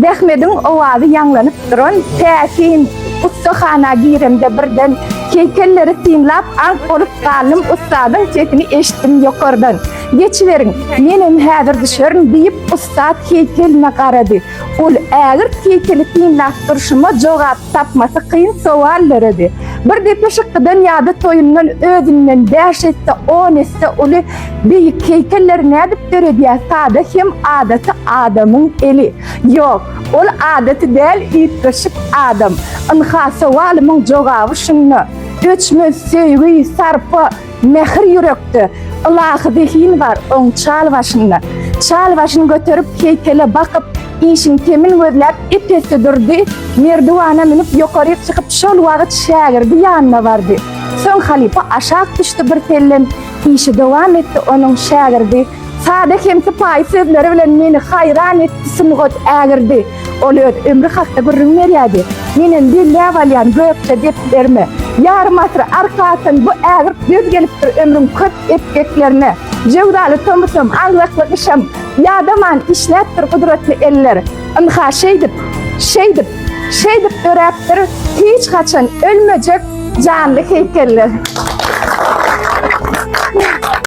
Zähmediň owazy ýaňlanyp duran täsin ussahana giremde birden heýkelleri synlap aňk bolup galdym ussadyň sesini eşitdim ýokardan, Geçiberiň, menem häzir düşerin diýip ussat heýkeline garady. Ol ägirt heýkeli synlap durşuma jogap tapmasy kyn sowal döredi. Bir depeşykdan ýa-da toýundan özünden bäş esse, on esse uly, beýik heýkelleri nädip döredýär sada hem adaty adamyň eli? Ýok, ol adaty däl üýtgeşik adam. Ynha, sowalymyň jogaby şunda. Öçmez söýgi, sarpa, Mähir ýürekde, ylahy zehin bar oň çal başynda. Çal başyny göterip, heýkele bakyp, işiň temin gözläp, ep-esli durdy, merdiwana münüp, ýokaryk çykyp, şol wagt şägirdi ýanyna bardy. Soň halypa aşak düşdi birsellem, işi dowam etdi, onuň şägirdi Sada hem sypaýy sözleri bilen meni haýran etdi Sungat ägirdi. Ol öz ömri hakda gürrüň berýärdi. Menem belläp alýan gökje deplerime. Ýarym asyr arka atan bu ägirt döz gelipdir ömrüň köp epgeklerine. Jöwzaly tomusam, aňzakly gyşam ýadaman işläpdir gudratly eller. Ynha şeýdip, şeýdip, şeýdip döräpdir hiç haçan ölmejek janly heýkeller.